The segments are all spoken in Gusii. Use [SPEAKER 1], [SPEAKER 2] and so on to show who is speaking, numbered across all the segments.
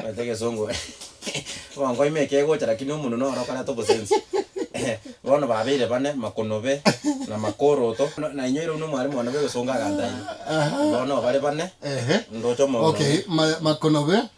[SPEAKER 1] Omanyete egesongo Wankoima eke egocha lakini omonwe noro okoreta obosensi Bono babeire bane Makonobe na Makoroto na inyoire buna omwalimu one bwegesongo agantainia Bono bare bane ndoche omoyo buna okay Makonobe.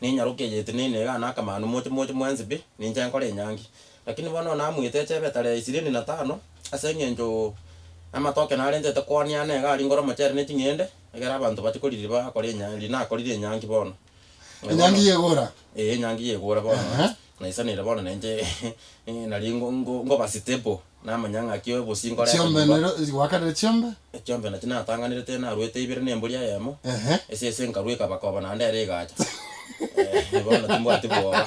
[SPEAKER 1] Nenyaroke eyete na enega na akamanu moche moche mwensi pi, ninche nkore enyangi. Lakini bono namuete echebe etare ishirini na tano, ase engencho amatoke narentete koania ane iga aringore omochere ne ching'ende, egere abanto bache koriri bakore enya rinakorire enyangi bono. Na bono. Enyangi
[SPEAKER 2] y'egoora. Ee enyangi y'egoora
[SPEAKER 1] bono. Ehe. Naisanire bono nainche nari ngo- ngo- ngoba stable. Namanya ng'a kio bosii nkore ase nyomba. Chiombe nero
[SPEAKER 2] gwakanire chiombe. Echiombe nachi natanganire te
[SPEAKER 1] naruete ibere ne mbori eyemo, Ehe. esese nkarua ekaba koba naende ere egacha. Eeh, bono timbwati bwoba.